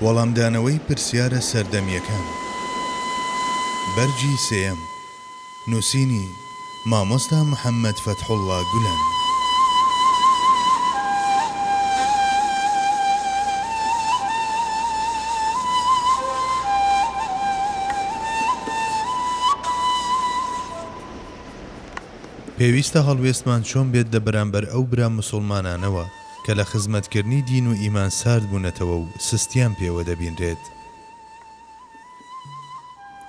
وەڵامدانەوەی پرسیارە سەردەمییەکان بەرگی سێیەم نووسینی مامۆستا محەممەد فەتحوڵڵا گولەن. پێویستە هەڵوێستمان چۆن بێت لە بەرامبەر ئەو برا موسوڵمانانەوە، کە لە خزمەتکردنی دین و ئیمان سارد بوونەتەوە و سستیان پێوە دەبینرێت.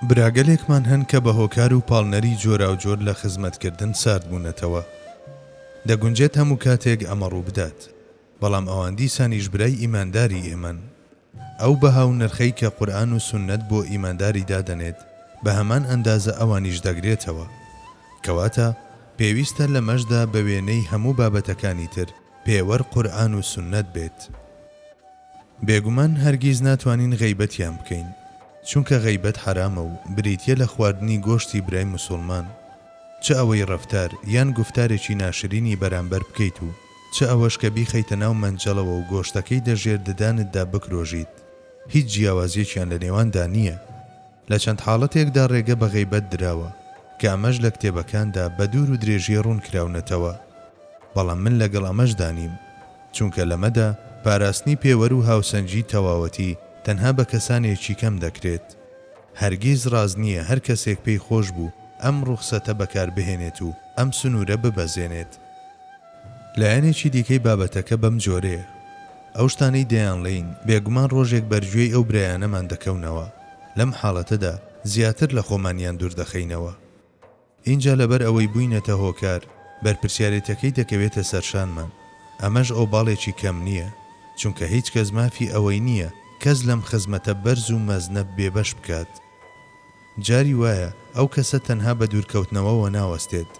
براگەلێکمان هەن کە بە هۆکار و پاڵنەری جۆراوجۆر لە خزمەتکردن سارد بوونەتەوە. دەگونجێت هەموو کاتێک ئەمە ڕووبدات، بەڵام ئەوان دیسانیش برای ئیمانداری ئێمەن. ئەو بەها و نرخەی کە قورئان و سوننەت بۆ ئیمانداری دادەنێت بە هەمان ئەندازە ئەوانیش دەگرێتەوە. کەواتە پێویستە لەمەشدا بە وێنەی هەموو بابەتەکانی تر پێوەر قورئان و سوننەت بێت. بێگومان هەرگیز ناتوانین غەیبەتیان بکەین. چونکە غەیبەت حەرامە و بریتیە لە خواردنی گۆشتی برای موسوڵمان. چ ئەوەی ڕەفتار یان گوفتارێکی ناشرینی بەرامبەر بکەیت و چ ئەوەش کە بیخەیتە ناو مەنجەڵەوە و گۆشتەکەی دە ژێر ددانتدا بکرۆژیت، هیچ جیاوازیەکیان لە نێواندا نییە. لە چەند حاڵەتێکدا ڕێگە بە غەیبەت دراوە، کە ئەمەش لە کتێبەکاندا بە دوور و درێژی ڕوون کراونەتەوە. بەڵام من لەگەڵ ئەمەشدا نیم. چونکە لەمەدا پاراستنی پێوەر و هاوسەنگی تەواوەتی تەنها بە کەسانێکی کەم دەکرێت. هەرگیز ڕاست نییە هەر کەسێک پێی خۆش بوو ئەم ڕوخسەتە بەکاربهێنێت و ئەم سنوورە ببەزێنێت. لایەنێکی دیکەی بابەتەکە بەم جۆرەیە، ئەو شتانەی دەیانڵێین، بێگومان ڕۆژێک بەرگوێی ئەو برایانەمان دەکەونەوە، لەم حاڵەتەدا زیاتر لە خۆمانیان دوور دەخەینەوە. ئینجا لەبەر ئەوەی بووینەتە هۆکار، بەرپرسیارێتیەکەی دەکەوێتە سەرشانمان. ئەمەش ئۆباڵێکی کەم نییە، چونکە هیچ کەس مافی ئەوەی نییە کەس لەم خزمەتە بەرز و مەزنە بێبەش بکات. جاری وایە ئەو کەسە تەنها بە دوورکەوتنەوەوە ناوەستێت،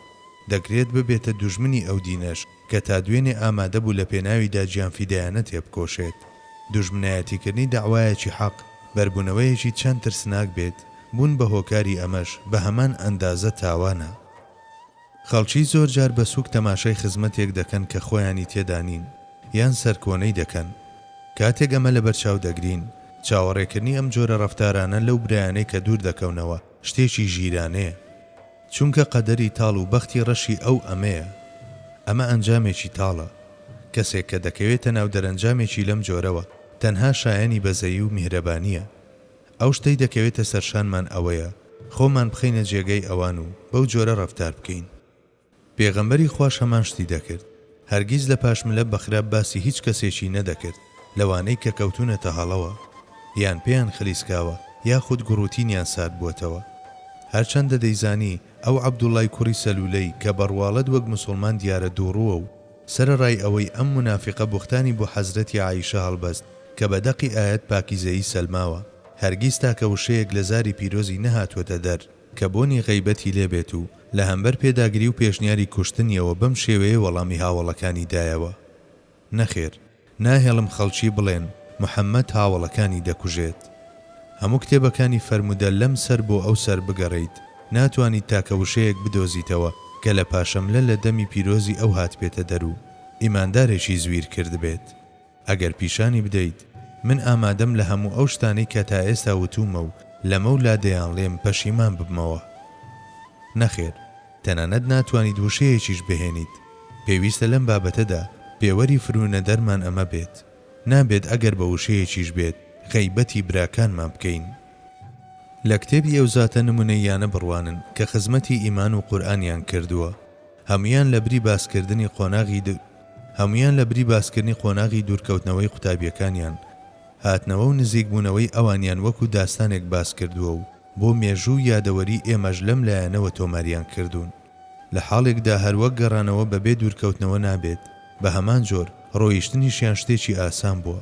دەکرێت ببێتە دوژمنی ئەو دینەش. کە تا دوێنێ ئامادە بوو لە پێناویدا گیانفیدایانە تێبکۆشێت. دوژمنایەتیکردنی دەعوایەکی حەق، بەربوونەوەیەکی چەند ترسناک بێت، بوون بە هۆکاری ئەمەش بە هەمان ئەندازە تاوانە. خەڵکی زۆر جار بە سووک تەماشای خزمەتێک دەکەن کە خۆیانی تێدا نین، یان سەرکۆنەی دەکەن. کاتێک ئەمە لەبەرچاو دەگرین، چاوەڕێکردنی ئەم جۆرە ڕەفتارانە لەو برایانەی کە دوور دەکەونەوە، شتێکی ژیرانەیە. چونکە قەدەری تاڵ و بەختی ڕەشی ئەو ئەمەیە. ئەمە ئەنجامێکی تاڵە. کەسێک کە دەکەوێتە ناو دەرەنجامێکی لەم جۆرەوە، تەنها شایەنی بەزەیی و میهرەبانییە. ئەو شتەی دەکەوێتە سەرشانمان ئەوەیە خۆمان بخەینە جێگەی ئەوان و بەو جۆرە ڕەفتار بکەین. پێغەمبەری خواش هەمان شتی دەکرد. هەرگیز لە پاش ملە بەخراپ باسی هیچ کەسێکی نەدەکرد لەوانەی کە کەوتونەتە هەڵەوە یان پێیان خلیسکاوە یاخود گوڕوتینیان ساردبوەتەوە هەرچەندە دەیزانی ئەو عەبدوڵای کوڕی سەلولەی کە بەڕواڵەت وەک موسوڵمان دیارە دووڕوە و سەرەڕای ئەوەی ئەم مونافیقە بوختانی بۆ حەزرەتی عائیشە هەڵبەست کە بە دەقی ئایەت پاکیزەیی سەلماوە هەرگیز تاکە وشەیەک لە زاری پیرۆزی نەهاتوەتە دەر کە بۆنی غەیبەتی لێ بێت و لە هەمبەر پێداگری و پێشنیاری کوشتنیەوە بەم شێوەیە وەڵامی هاوەڵەکانی دایەوە، نەخێر، ناهێڵم خەڵکی بڵێن محەمەد هاوەڵەکانی دەکوژێت. هەموو کتێبەکانی فەرموودە لەم سەر بۆ ئەو سەر بگەڕێیت، ناتوانیت تاکە وشەیەک بدۆزیتەوە کە لە پاشەملە لە دەمی پیرۆزی ئەو هاتبێتە دەر و ئیماندارێکی زویر کردبێت. ئەگەر پیشانی بدەیت من ئامادەم لە هەموو ئەو شتانەی کە تا ئێستا وتوومە و لەمەو لا دەیانڵێم پەشیمان ببمەوە. نەخێر، تەنانەت ناتوانیت وشەیەکیش بهێنیت. پێویستە لەم بابەتەدا پێوەری فروونەدەرمان ئەمە بێت. نابێت ئەگەر بە وشەیەکیش بێت غەیبەتی براکانمان بکەین. لە کتێبی ئەو زاتە نموونەییانە بڕوانن کە خزمەتی ئیمان و قورئانیان کردووە. هەموویان لە بری باسکردنی قۆناغی دو هەموویان لە بری باسکردنی قۆناغی دوورکەوتنەوەی قوتابییەکانیان، هاتنەوە و نزیکبوونەوەی ئەوانیان وەکو داستانێک باس کردووە و بۆ مێژوو و یادەوەری ئێمەش لەم لایەنەوە تۆماریان کردوون. لە حاڵێکدا هەر وەک گەڕانەوە بەبێ دوورکەوتنەوە نابێت، بە هەمان جۆر، ڕۆیشتنیشیان شتێکی ئاسان بووە.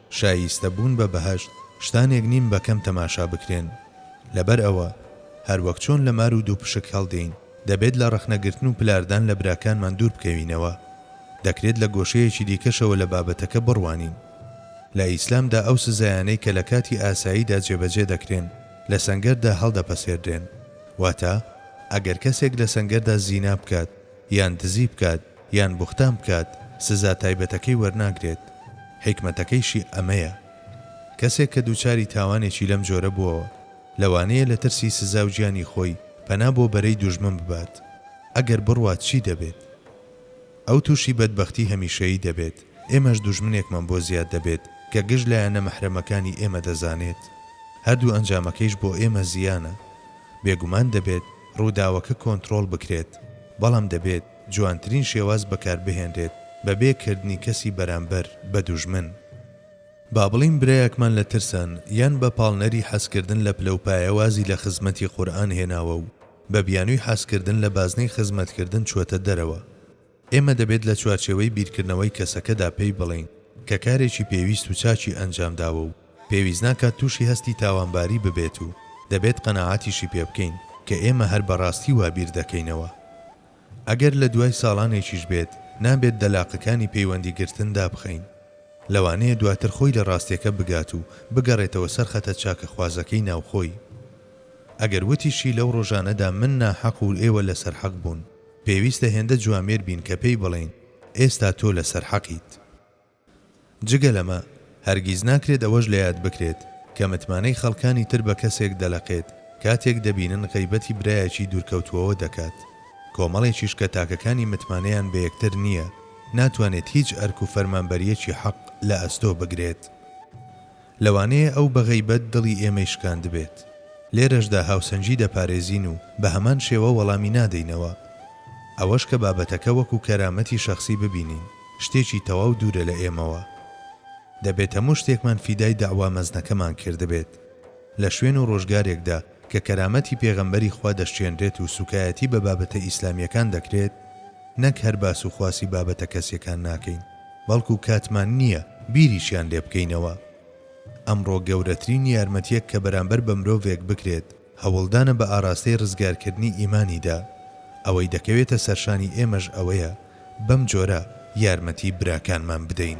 شایستە بوون بە بەهەشت شتانێک نین بە کەم تەماشا بکرێن. لەبەر ئەوە هەر وەک چۆن لە مار و دووپشک هەڵدێین، دەبێت لە ڕەخنە گرتن و پلاردان لە براکانمان دوور بکەوینەوە. دەکرێت لە گۆشەیەکی دیکەشەوە لە بابەتەکە بڕوانین. لە ئیسلامدا ئەو سزایانەی کە لە کاتی ئاساییدا جێبەجێ دەکرێن، لە سەنگەردا هەڵدەپەسێردرێن. واتە ئەگەر کەسێک لە سەنگەردا زینا بکات، یان دزی بکات یان بوختان بکات سزا تایبەتەکەی وەرناگرێت، حیکمەتەکەیشی ئەمەیە کەسێک کە دووچاری تاوانێکی لەم جۆرە بووەوە لەوانەیە لە ترسی سزا و گیانی خۆی پەنا بۆ بەرەی دوژمن ببات ئەگەر بڕوات چی دەبێت ئەو تووشی بەدبەختی هەمیشەیی دەبێت ئێمەش دوژمنێکمان بۆ زیاد دەبێت کە گشت لایەنە مەحرەمەکانی ئێمە دەزانێت هەردوو ئەنجامەکەیش بۆ ئێمە زیانە بێگومان دەبێت ڕووداوەکە کۆنتڕۆڵ بکرێت، بەڵام دەبێت جوانترین شێواز بەکاربهێنرێت بەبێ کردنی کەسی بەرامبەر بە دوژمن. با بڵێین برایەکمان لە ترسان یان بە پاڵنەری حەزکردن لە پلەوپایە وازی لە خزمەتی قورئان هێناوە و بە بیانووی حەزکردن لە بازنەی خزمەتکردن چووەتە دەرەوە، ئێمە دەبێت لە چوارچێوەی بیرکردنەوەی کەسەکەدا پێی بڵێین کە کارێکی پێویست و چاکی ئەنجامداوە و پێویست ناکات تووشی هەستی تاوانباری ببێت و دەبێت قەناعەتیشی پێ بکەین کە ئێمە هەر بە ڕاستی وا بیر دەکەینەوە ئەگەر لە دوای ساڵانێکیش بێت نابێت دەلاقەکانی پەیوەندی گرتن دابخەین لەوانەیە دواتر خۆی لە ڕاستیەکە بگات و بگەڕێتەوە سەر خەتە چاکەخوازەکەی ناوخۆی ئەگەر وتیشی لەو ڕۆژانەدا من ناحەق و ئێوە لەسەر حەق بوون. پێویستە هێندە جوامێر بین کە پێی بڵێین ئێستا تۆ لەسەر حەقیت. جگە لەمە، هەرگیز ناکرێت ئەوەش لە یاد بکرێت کە متمانەی خەڵکانی تر بە کەسێک دەلەقێت کاتێک دەبینن غەیبەتی برایەکی دوورکەوتووەوە دەکات، کۆمەڵێکیش کە تاکەکانی متمانەیان بە یەکتر نییە، ناتوانێت هیچ ئەرک و فەرمانبەرییەکی حەق لە ئەستۆ بگرێت. لەوانەیە ئەو بە غەیبەت دڵی ئێمەی شکاندبێت. لێرەشدا هاوسەنگی دەپارێزین و بە هەمان شێوە وەڵامی نادەینەوە. ئەوەش کە بابەتەکە وەکو کەرامەتی شەخسی ببینین، شتێکی تەواو دوورە لە ئێمەوە. دەبێت هەموو شتێکمان فیدای دەعوا مەزنەکەمان کردبێت. لە شوێن و ڕۆژگارێکدا کە کەرامەتی پێغەمبەری خوا دەشچێنرێت و سوکایەتی بە بابەتە ئیسلامیەکان دەکرێت، نەک هەر باس و خواسی بابەتە کەسیەکان ناکەین، بەڵکو کاتمان نیە بیریشیان لێ بکەینەوە. ئەمڕۆ گەورەترین یارمەتیەک کە بەرامبەر بە مرۆڤێک بکرێت، هەوڵدانە بە ئاراستەی ڕزگارکردنی ئیمانیدا. ئەوەی دەکەوێتە سەرشانی ئێمەش ئەوەیە بەم جۆرە یارمەتی براکانمان بدەین.